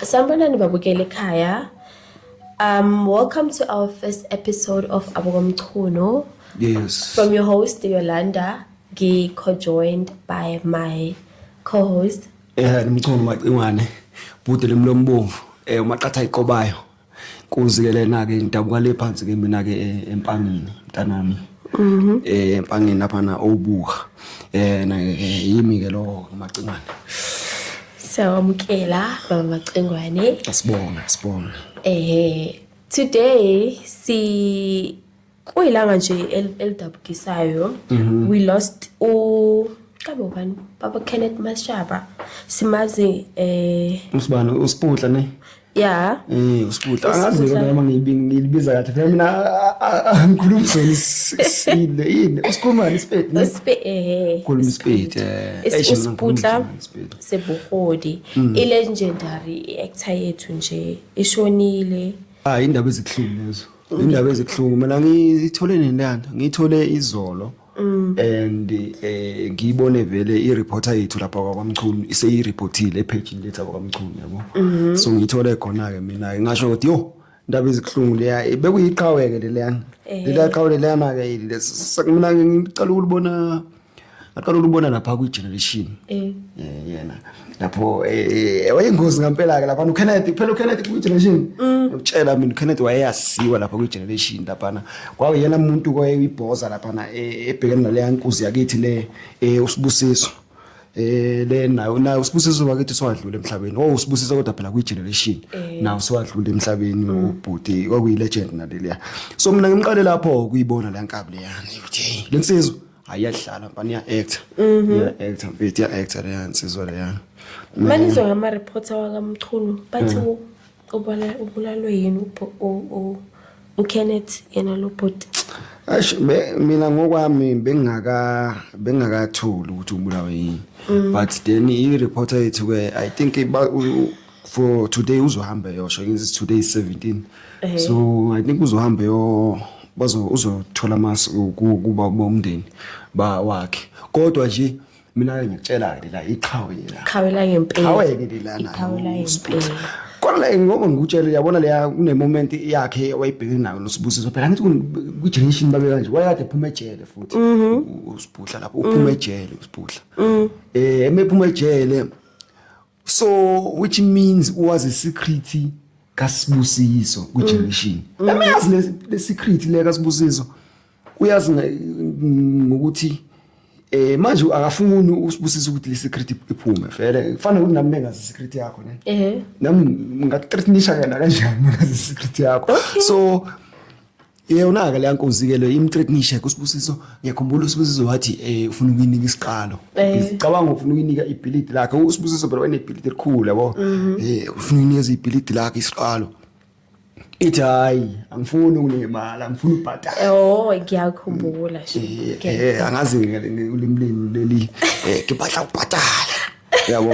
Sanibonani babukela ekhaya. Um, welcome to our first episode of Abokomchuno. Yes. From your host Yolanda, ngi co-joined by my co-host. Eh, nimchunu macingwane. Bhuti lemlombomvu. Eh, umaqatha iqobayo. Nkunzi-ke lena-ke ngidabuka le phansi-ke mina-ke eh, empangeni mntanami um empangeni laphana owubuka um yimi-ke lowo amacingwane siyawamukela baba macingwane asibonga asibonga um today si Kuyilanga nje elidabukisayo. Mhm. We lost u Kabe ubani? Baba Kenneth Mashaba. Simazi eh Usibani usiputla ne? Yeah. Eh usiputla. Angazi noma ngilibiza kahle. Phela mina angikhulumi zona isile yini? Usikhuluma isipedi ne? Isipedi eh. Khuluma isipedi. Eh. Usiputla sebuhodi. Mm. I legendary actor yethu nje ishonile. Ah indaba ezikhulu lezo. indaba ezibuhlungu mina ngiyithole nentanda ngiyithole izolo mm. and eh ngiyibone vele i-reporter yethu lapha kwakwamchunu iseyi-reportile ephejini lethu kwakwamchunu yabo mm-hmm. so ngiyithole khona-ke mina-ke ngasho ukuthi yo indaba ezibuhlungu leya bekuyiqhawe-ke leleyana eh. leliya qhawe leleyana-ke mina ngicela ukulibona ngaqala ukubona lapha kwi-generation eh. eh yena lapho eh, eh, wayengozi ngampela-ke lapha ukenneth kuphela ukenneth kwi-generation mm. utshela mina ukenneth wayeyasiwa lapha kwi-generation laphana kwawuyena muntu kwayeyibhoza laphana ebhekene naleya nkuzi yakithi le um usibusiso eh le nayo nayo usibusiso wakithi siwadlule emhlabeni oh usibusiso kodwa phela kwi generation eh. nawo siwadlule emhlabeni mm. ubhuti kwakuyi legend naleliya so mina ngimqale lapho kuyibona la nkabi leyani ukuthi lensizwa hayi iyadlala mfana iya-actor mhm. iya-actor mfethu iya-actor leya nsizwa leyana balizwe ngama-reporter wakamchunu bathi mm. ubulalwe yini ukenneth yena lo bhoti Ash mina ngokwami bengaka bengakatholi ukuthi ubulawe yini. Mm. But then i reporter yethu ke I think for today uzohamba yosho ngithi today is 17 Eh. so i think uzohamba yo bazo uzothola mas kuba bomndeni ba wakhe kodwa nje mina ngicela ke la iqhawe la Qhawe la ngempela. Qhawe ke ke lana. Iqhawe la ngempela. Kodwa la ngoba ngikutshela yabona leya kune moment yakhe wayibhekene nayo losibusiso phela ngithi ku generation babe kanje wayekade phuma ejele futhi usibhudla lapho uphuma ejele usibhudla eh emephuma ejele so which means uwazi secret kasibusiso ku mm. generation mm. emayazi le, le secret le kasibusiso uyazi ngokuthi eh manje akafuni usibusisa ukuthi le secret iphume vele kufanele ukuthi nami ngazi secret yakho ne eh nami ngathi threatnisha yena kanjani ngazi secret yakho so Yeyona-ke leya nkozi-ke leyo imtreknisha kusibusiso ngiyakhumbula usibusiso wathi um ufuna ukuyinika isiqalo Eh. cabanga ufuna ukuyinika ibhilidi lakhe usibusiso phela wanebhilidi elikhulu yabo um ufuna ukunikeza ibhilidi lakhe isiqalo ithi hhayi angifuni ukulimala angifuni ubhadala Oh, ngiyakhumbula nje. Eh, angazi ulimlini leli um ngibadla ukubhadala yabo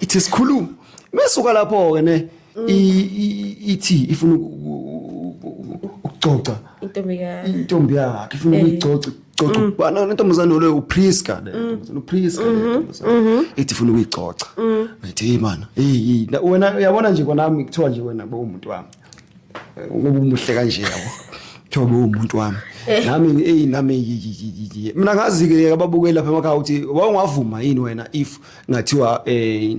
ithi sikhuluma mesuka lapho-ke ne Mm. ithi ifuna ukucoca intombi yakhe ifuna eh. ukuyicoca coca mm. ubana nentombazane loyo uPrisca le mm. ntombazane uPrisca le mm-hmm. ntombazane mm-hmm. ethi funa ukuyicoca ngithi hey mana hey wena uyabona nje kwanami kuthiwa nje wena bo umuntu wami eh, ngoba umuhle kanje yabo kuthiwa bo umuntu wami eh. nami hey nami mina ngazi ke ababukeli lapha emakhaya ukuthi wawungavuma yini wena if ngathiwa eh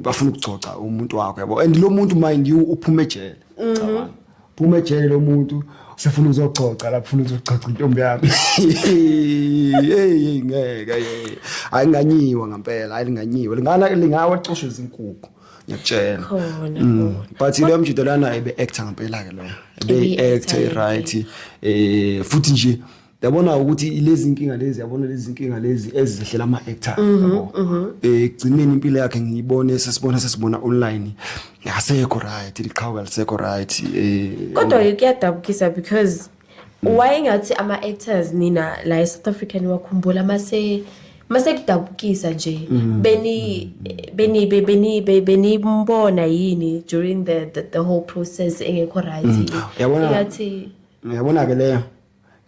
bafuna ukugcoca umuntu wakho yabo and lo muntu mind you uphuma ejele cabanga phuma ejele lo muntu sefuna uzogcoca lapho ufuna uzogcoca intombi yami hey ngeke hey ayinganyiwa ngempela ayinganyiwa lingana lingawa cosho izinkukhu ngiyakutshela khona mm. but leyo mjito lana ebe actor ngempela ke leyo ebe actor right eh futhi nje yabona ukuthi lezi inkinga lezi yabona lezi inkinga lezi ezihlela ama actor mhm, yabo mhm. eh gcineni impilo yakhe ngiyibone sesibona sesibona online ngasekho right liqhawuka lisekho right eh kodwa kuyadabukisa because mm. why ngathi ama actors nina la e South African wakhumbula mase mase kudabukisa nje mm. beni beni beni beni mbona yini during the the, the whole process engekho right mm. yabona ngathi yabona ke leyo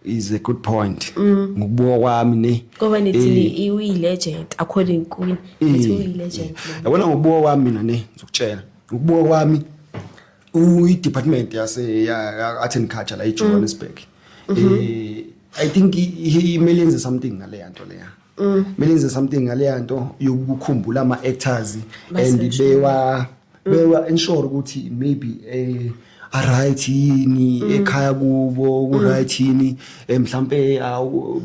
is a good point mm. ngokubuka kwami ne ngoba nithi eh. iwi legend according ku eh. nithi uyi legend eh. yabona ngokubuka kwami mina ne ngizokutshela ngokubuka kwami uyi department yase ya art and culture la eJohannesburg mm. mm-hmm. eh i think he millions something ngale yanto leya Mm. Mina ngenze something ngaleya nto yokukhumbula ama actors and bewa mm. bewa ensure ukuthi maybe eh aright yini mm. ekhaya kubo ku right yini eh, mhlambe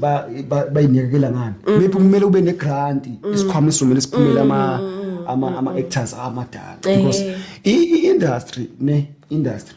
ba bayinekela ngani maybe kumele ube ne grant isikhwama isumele siphumele ama ama ama actors amadala eh. because i industry ne industry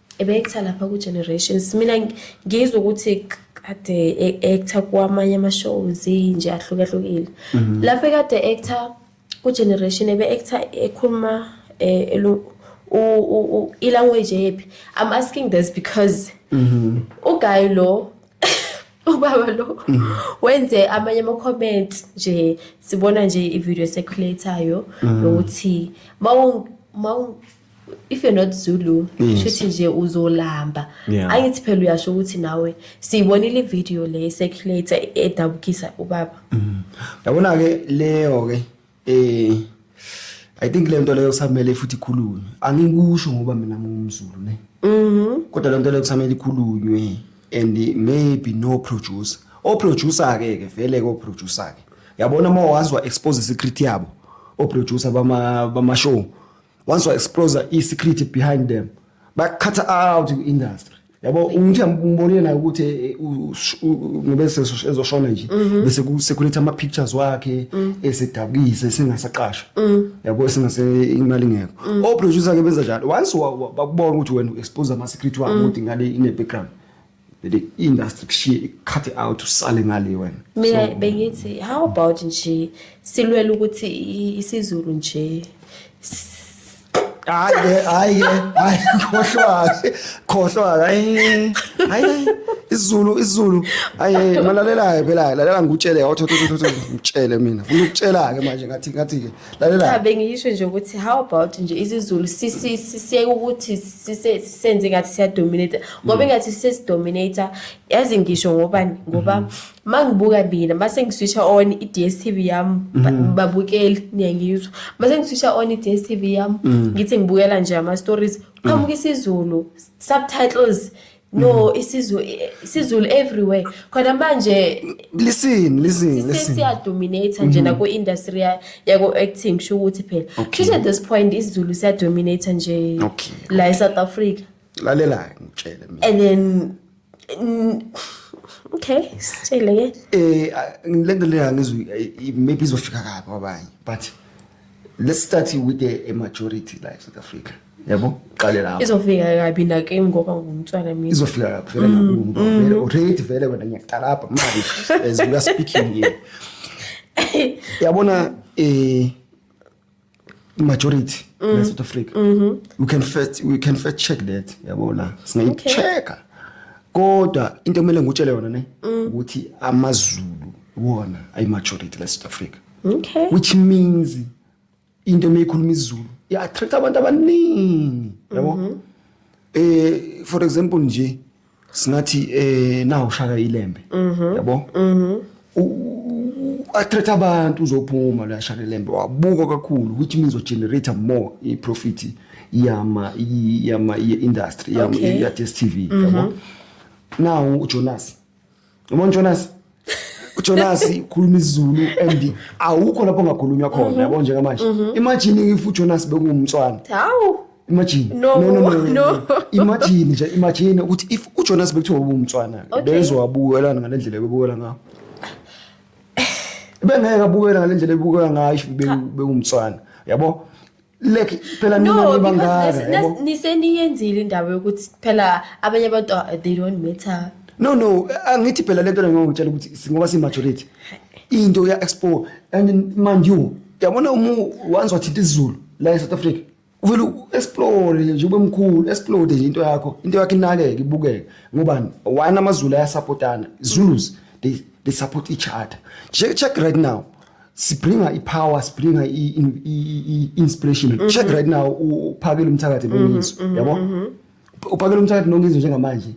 ebektha lapha ku-generations mina ngizwa ukuthi kade e-actor kwamanye ama-shows nje ahlukahlukile mhm. lapho ekade e-actor ku-generation ebe-actor ekhuluma um i-language eyephi i'm asking this because mhm. ugayi lo ubaba lo mhm. wenze amanye ama-comment nje sibona nje i-video circulatayo yokuthi if you're not zulu mm. shuthi nje uzolamba yeah. angithi phela uyasho ukuthi nawe siyibonile ivideo le circulator edabukisa ubaba mm. yabona ke leyo ke eh i think le nto leyo kusamele futhi ikhulunywe angikusho ngoba mina ngumzulu ne mhm kodwa le nto leyo kusamele ikhulunywe and maybe no producer o producer ke ke vele ko producer ke yabona uma wazwa expose secret yabo o producer bama bama show once wa expose i secret behind them bakhatha out ku industry yabo umuntu ambonile naye ukuthi eh, ngobe sezoshona nje mhm. bese kusekhulitha ama pictures wakhe mhm. esedabukise singasaqasha mhm. yabo singase imali ngekho o producer ke benza njalo once bakubona ukuthi wena expose ama secret wakho ukuthi ngale ine background vele i-industry kushiye ikukhathe out usale ngale wena mina bengithi how about nje silwela ukuthi i- isizulu nje hayi ke hayi ke hayi khohlwa-ke khohlwa-ke hayi hayi hayi isizulu isizulu hayi hayi, malalelayo phela-ke lalela ngikutshele-ke awuthothothothotho ngikutshele mina funa ukutshela-ke manje ngathi ngathi-ke lalela cha bengiyisho nje ukuthi how about nje isizulu sisiyeke ukuthi sisenze ngathi siyadominate ngoba mm. ingathi sesidominator yazi ngisho ngoba ngoba mm. mangibuka mina mase ngiswisha on i-DStv yami mm. babukeli niyangizwa mase ngiswisha on i-DStv yami ngithi ngibukela nje ama stories qhamuka isizulu subtitles no isizulu isizulu everywhere khona manje listen listen sise listen siyadominate nje nako industry ya- yako acting kusho ukuthi phela Okay. kusho at this point isizulu siyadominate nje Okay. la eSouth Africa lalela ngitshele mina and then mm, okay sitshele ke eh a- lento leya ngizwe eh, i- maybe izofika kabi kwabanye but let's start with the a majority la eSouth Africa yabo qale lapho izofika kabi nakim ngoba ngumntwana mina izofika kabi vele mm, nakum ngoba mm. vele already vele wena ngiyaqala lapha manje as we are speaking here yabona eh majority mm. in South Africa mm -hmm. we can first we can first check that yabona singayi okay. checka kodwa into ekumele ngikutshele yona ne mm. ukuthi mm. amazulu wona ayi majority la South Africa okay which means into emeyikhuluma isiZulu i-attract abantu abaningi yabo mhm. eh for example nje singathi eh na ushaka ilembe mhm. yabo mhm. attract abantu uzophuma la shaka ilembe wabuka kakhulu which means will generate more i profit yama yama industry yama ya DStv yabo now uJonas Yabona Jonas? uJonas ukhuluma isiZulu and awukho lapho ngakhulunywa khona mhm. yabo njengamanje. Mhm. Imagine if uJonas bekuwumtswana. Hawu. Imagine. No, no, no, no. no. Imagine nje imagine ukuthi if uJonas bekuthiwa ubumtswana bezwa abukelana ngalendlela ebukela ngayo. Bengeke abukela ngalendlela ebukela ngayo if bewumtswana. Yabo? like phela nina no because nibangaka nas- yabo. nas- niseniyenzile indaba yokuthi phela abanye abantu ah, they don't matter no no angithi phela lento ngiyokutshela ukuthi si- ngoba simajority into ya expo and then, mind you yabona umu once wathinta isizulu la eSouth Africa uvele u- explore nje ube mkhulu explode nje into yakho into yakho inakeke ibukeke ngobani wani amazulu ayasupportana zulus they they support each other check check right now sibringa ipower sibringa i-inspiration mm -hmm. check right now uphakele umthakathi mm-hmm, nongizwe mm-hmm, yabo mm -hmm. uphakele umthakathi nongizwe njengamanje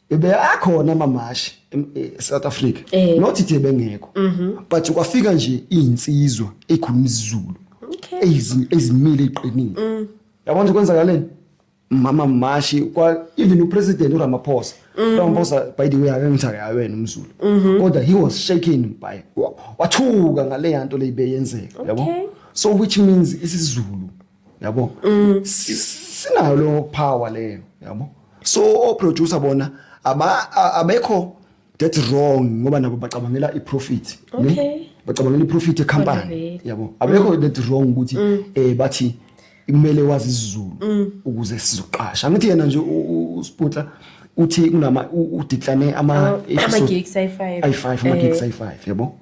ebe akhona amamashi e, South Africa eh. not ithi bengekho mm -hmm. but kwafika nje insizwa ekhuluma isiZulu okay. ezimile iqinile mm. yabona ukwenzakaleni mama mashi kwa even upresident uRamaphosa mm -hmm. Ramaphosa by the way akangithaka yawena umzulu mm -hmm. kodwa he was shaking by wathuka ngale yanto leyibeyenzeka okay. yabo so which means isizulu yabo mm. sinayo lo power leyo yabo so o producer bona aba abekho that's wrong ngoba nabo bacabangela iprofit okay bacabangela iprofit ecompany yabo abekho mm. that's wrong ukuthi mm. eh bathi kumele wazi isiZulu mm. ukuze sizoqasha ngithi yena nje uSputla uthi kunama udeclare ama oh, ama gigs i5 i5 ama gigs i5 eh. yabo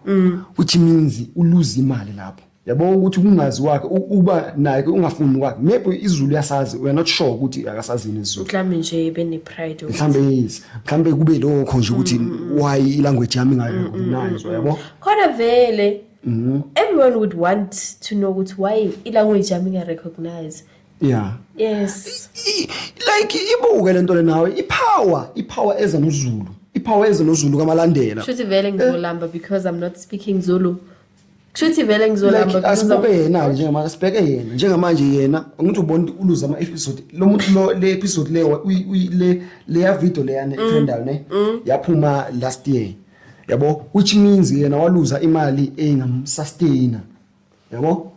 which means uluza imali lapho yabo ukuthi ukungazi kwakhe uba naye ungafuni kwakhe maybe izulu yasazi we are not sure ukuthi akasazi yini izulu mhlawumbe nje bene pride mhlawumbe yes mhlawumbe kube lokho nje ukuthi mm, mm, mm. why i language yami ngayo nayo yabo khona vele Mm-hmm. Everyone would want to know ukuthi why ilanguage yami inga recognize. Yeah. Yes. Like ibuke lento le nawe ipower ipower eza noZulu. Ipower eza noZulu kamalandela. Shuthi vele ngizolamba eh. because I'm not speaking Zulu. Kushuthi vele ngizolamba like asibuke yena njengamanje sibheke yena njengamanje yena ngithi ubona ukuthi uluza ama episode lo muntu lo le episode le le leya video leyana mm. etrendayo ne mm. yaphuma last year yabo which means yena waluza imali engamsustainer yabo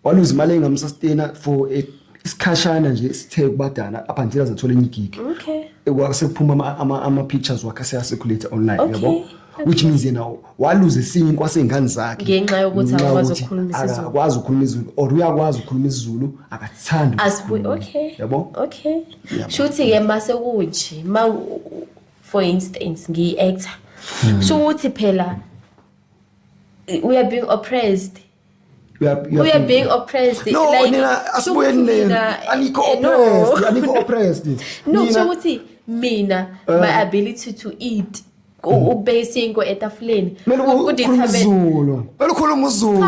waluza imali engamsasitena for a- isikhashana nje sithe kubadala up until azathola enye igigi Okay. kwasekuphuma ama- ama- ama-pictures wakhe aseyacirculate online Okay, yabo okay. which means yena waluza esinye kwasey'ngane zakhe Ngenxa yokuthi Ngenxa akakwazi yokuthi ukukhuluma isiZulu. akakwazi ukukhuluma isiZulu or uyakwazi ukukhuluma isiZulu akathandi Asibuyi ukusikhuluma. okay. yabo Okay. Yabo. Shuthi ke mase kunje ma u- u- for instance ngiyi actor. Hmm. Sho ukuthi phela eh, we are being oppressed we are being oppressed no like, nina asibuyeni nini anikho eh, oppressed anikho oppressed no kusho ukuthi mina eh. my ability to eat ubeyisa inko etafuleni kudetermine ukhuluma uZulu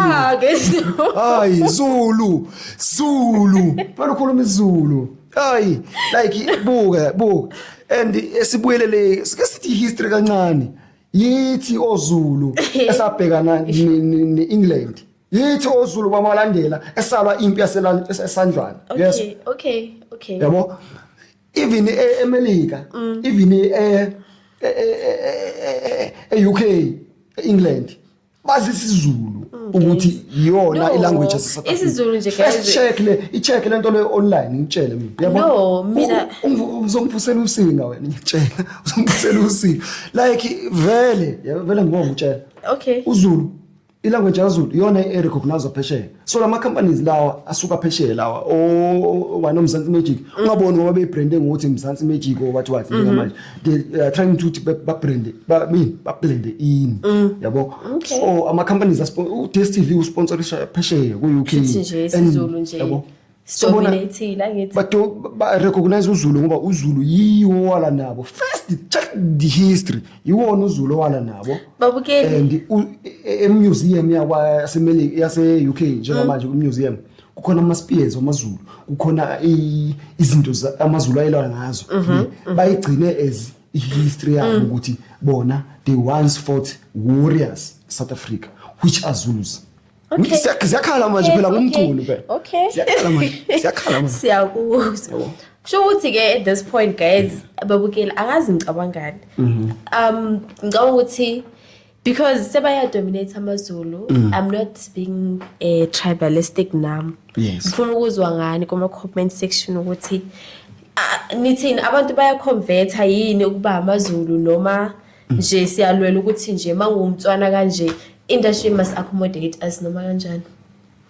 hayi Zulu Zulu ukhuluma iZulu hayi like buke buke and esibuyelele sike sithi history kancane yithi ozulu esabhekana ne-england yithi ozulu bamalandela esalwa impi yasesandlwana yes okay okay okay yabo even eAmerica mm. even e, e, e, e-UK eEngland bazi isiZulu mm, ukuthi iyona i language yase South Africa isiZulu nje guys check le i check lento le online ngitshele mina yabo no mina uzongipusela usinga wena ngitshela uzongipusela usinga like vele vele ngibonga utshela okay uZulu i language yaZulu iyona e recognize phesheya so lama companies lawa asuka phesheya lawa owano Mzansi Magic mm. ungaboni ngoba be brand ngokuthi Mzansi Magic or what what mm-hmm. manje they are trying to ba brand ba mean ba blend in mm. yabo so ama companies u DStv u sponsorisha phesheya ku UK and yabo Sobona- Sidominathile angithi. Bato ba recognize uZulu ngoba uZulu yiwo wala nabo. First check the history. Yiwona uZulu owala nabo. Babukeli. And u- e- e- emuseum yakwa semeli yase UK njengamanje ku museum kukhona ama spears amaZulu, kukhona i- izinto za- amaZulu ayelwa ngazo. Bayigcine as i history yabo ukuthi bona they once fought warriors South Africa which are Zulus. Okay. Siya- Siyakhala manje phela Okay, ngumculo phela. Okay. Siyakhala manje. Siyakhala manje. Siyakuzwa. Kusho ukuthi ke at this point guys ababukeli akazi ngicabangani. Mhm. Um ngicabanga ukuthi because sebaya dominate amaZulu Mm. I'm not being a tribalistic nam. Yes. Ngifuna ukuzwa ngani kuma comment section ukuthi ah, nithini abantu baya convert yini ukuba amaZulu noma nje siyalwela ukuthi nje mangumtswana kanje industry must accommodate us noma kanjani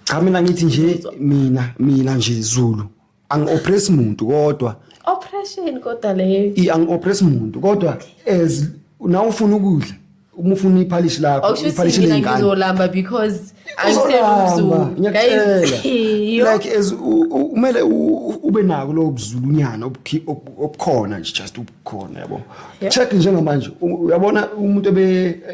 cha mina ngithi nje mina mina nje Zulu angioppress muntu kodwa oppression kodwa leyo i angioppress muntu kodwa as na ufuna ukudla uma ufuna iphalishi lakho awusho ukuthi iphalishi mina lengane ngizolamba because angiselumzulu ngiyakutshela like as u- u- kumele u- u- ube nako lowo buzulunyana obukhi- ob- obukhona nje just ub- khona yabo Yeah. check njengamanje u- uyabona umuntu ebe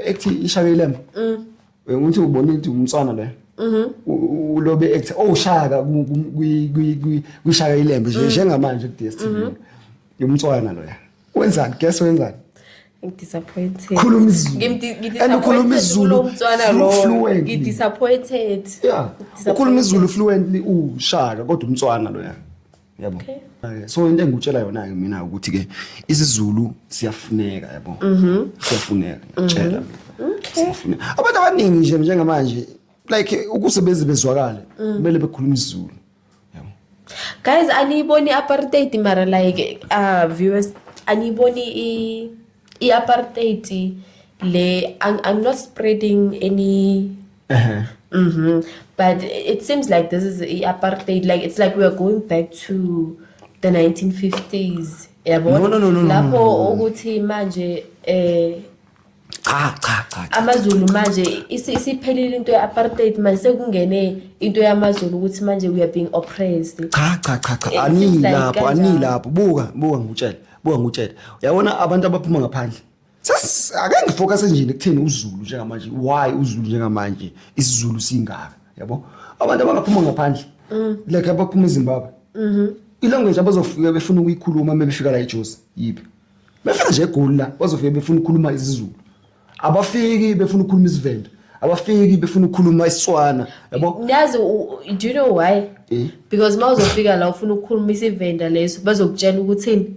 ekthi ishaka ilembe Mm. ukuthi ubona ukuthi umswana le Mhm. U- u- ulobe ekthi oh shaka ku- ku- kwi- kwi- kwi- kwishaka ilembe nje Mm. njengamanje ku DStv Mhm. umswana loya wenzani guess wenzani Ngidisappointed. Khuluma isiZulu. Ngimdi- ngidisappointed And ukhuluma isiZulu kulo mntwana flu- lowo. fluently. Ngidisappointed. yeah ukhuluma izulu fluently ushaka kodwa umswana loya yabo okay. so into engikutshela yona-ke mina ukuthi ke isizulu siyafuneka yabo mhm. siyafuneka mhm. tshela siyafuneka abantu abaningi nje njengamanje like ukuze beze bezwakale mm. kumele bekhuluma isizulu guys aniyiboni i-apartheid mara like uh, viewers aniyiboni i-apartheid le I'm, i'm not spreading any Uh-huh. Mm-hmm. But it seems like this is apartheid. Like it's like we are going back to the 1950s. Yeah, no, no, no, no, lapho no, no, no. manje eh cha cha cha amazulu manje isiphelile into ye-apartheid manje sekungene into yamazulu ukuthi manje we are being oppressed cha cha cha cha anilapho anilapho buka buka ngikutshela buka ngikutshela uyabona abantu abaphuma ngaphandle Sas ake ngifocus nje ekutheni uZulu njengamanje why uZulu njengamanje isiZulu singaka yabo abantu abangaphuma ngaphandle mm. like abaphuma eZimbabwe mhm ilanguage abazofika befuna ukuyikhuluma uma befika la eJozi yipi befika nje egoli la bazofika befuna ukukhuluma isiZulu abafiki befuna ukukhuluma isivenda abafiki befuna ukukhuluma isiswana yabo ngiyazi do you know why eh? because mawuzofika la ufuna ukukhuluma isivenda leso bazokutshela ukuthini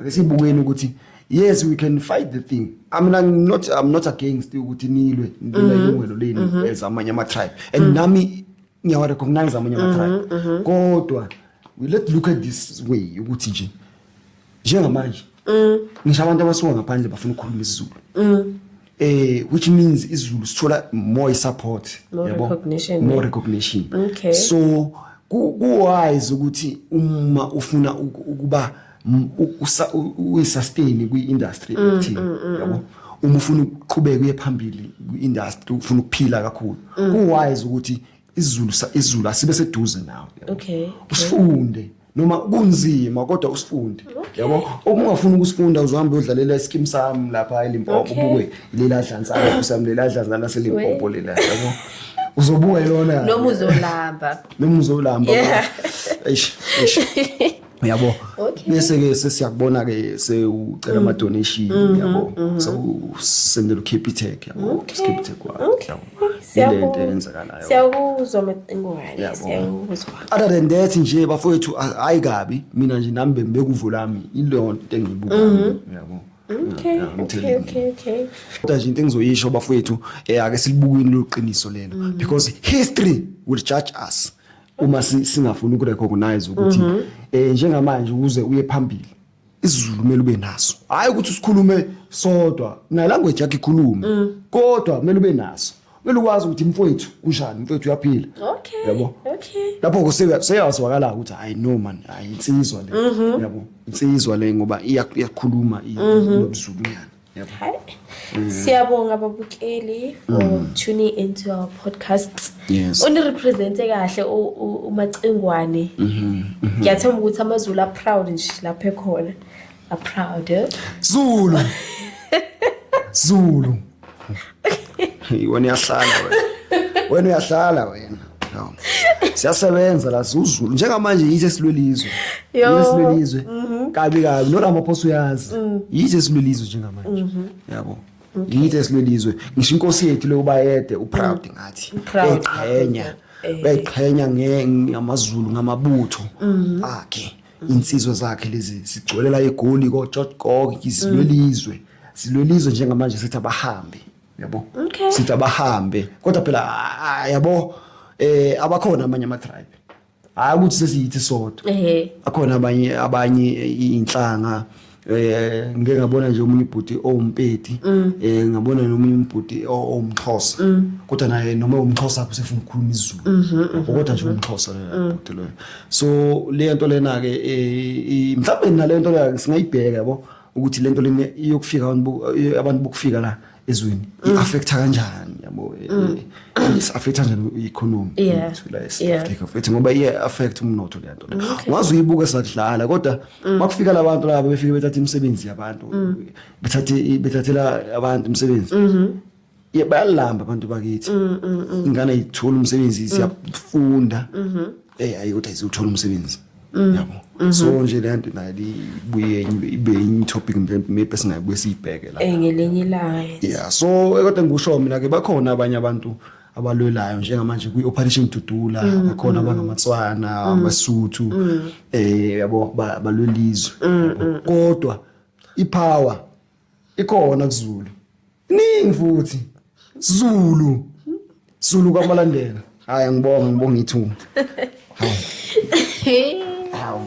ake sibukeni ukuthi yes we can fight the thing i mean i'm not i'm not against ukuthi nilwe nilwe mhm. ilungelo lenu mhm. as amanye ama tribe and mhm. nami ngiyawa recognize amanye ama tribe kodwa we let look at this way ukuthi nje njengamanje mm. ngisho abantu abasuka ngaphandle bafuna ukukhuluma isiZulu mm. eh which means isiZulu sithola more support more yabo? recognition more recognition okay so kuwise ukuthi uma ufuna ukuba uyisustain kwi-industry mm, ethile mm, mm, yabo uma ufuna ukuqhubeka uye phambili kwi-industry ufuna ukuphila kakhulu kuwise ukuthi isiZulu isiZulu asibe seduze nawe okay usifunde noma kunzima kodwa usifunde yabo okungafuni ukusifunda uzohamba uyodlalela isikimu sami lapha elimpopo Okay. ubuke lela dlanza lakho sami lela dlanza laselimpopo lela yabo uzobuka yona noma uzolamba noma uzolamba Yeah. eish eish yabo Okay. Mm. bese ke sesiyakubona ke sewucela ama donation yabo so sendela ukhiphi tag yabo ukhiphi tag wakho yabo siyakuzwa other than that nje bafowethu hayi kabi mina nje nami bengibekuvo lami ileyo nto engiyibuka mhm. yabo kodwa nje into engizoyisho bafowethu eh, ake silibukeni loqiniso lelo mhm. because history will judge us uma singafuni ukurecognize ukuthi um njengamanje ukuze uye phambili isizulu kumele ube naso hayi ukuthi sikhulume sodwa na language yakhe ikhulume mm. kodwa kumele ube naso kumele ukwazi ukuthi mfowethu kunjani mfowethu uyaphila okay yabo okay lapho ke seyazwakala ukuthi i know man ayinsizwa le mhm. yabo insizwa le ngoba iyakhuluma mhm. lobuzulu nyana Yep. Hi. Mm. Siyabonga babukeli for mm. tuning into our podcast. Yes. Unirepresente kahle umacingwane. Mhm. Mm mhm. Ngiyathemba mm ukuthi amaZulu a proud nje lapha ekhona. A proud. Eh? Zulu. Zulu. wena uyahlala wena wena uyahlala wena siyasebenza la siwuzulu njengamanje yithi esilwelizwe esilwelizwe mhm. kabi kabi noramaphosa uyazi mm. yithi esilwelizwe njengamanje mhm. yabo yithi esilwelizwe ngisho inkosi yethu lokuba yede uproud mm. ngathi eqhenya eqhenya ngamazulu ngamabutho mhm. akhe insizwa zakhe lezi sigcwelela egoli kojotgok izilwelizwe silwelizwe njengamanje sithi abahambi yabo okay. sithi abahambe kodwa phela yabo eh abakhona amanye ama tribe hayi ukuthi sesiyithi sodwa akhona abanye abanye inhlanga eh ngike ngabona nje omunye ubhuti owumpeti mm. eh ngabona nomunye umbhuti owumxhosa mm. kodwa naye noma umxhosa akho sefuna ukukhuluma izulu mm-hmm, mm-hmm, kodwa nje mm-hmm. umxhosa mm. ubhuti loyo so le nto lena ke eh, mhlawumbe nalento leyo singayibheka yabo ukuthi lento leni iyokufika abantu abantu bokufika la ezweni mm. i-affecta kanjani yabo eh, mm. eh, is-affecta kanjani i-economy la eafrica futhi ngoba iye-affect umnotho le nto le wazi uyibuke sakudlala kodwa mm. makufika la bantu laba befike bethatha imisebenzi yabantu bethathela abantu imisebenzi mm-hmm. bayalamba abantu bakithi ingane yithola umsebenzi ziyafunda mm-hmm. eyi ayi kodwa izothola umsebenzi mm. yabo mhm. so nje le nto nayo ibuye ibe enye topic maybe singabuye siyibheke la eh, ngelinye ilanga yeah so eh, kodwa ngikusho mina ke bakhona abanye abantu abalwelayo njengamanje kwi-operation dudula mm, bakhona mm. abangamatswana amasuthu um yabo balwelizwe kodwa ipower ikhona kuzulu ningi futhi zulu zulu kwamalandela hayi ngibonga ngibonga ithuba hayi hawu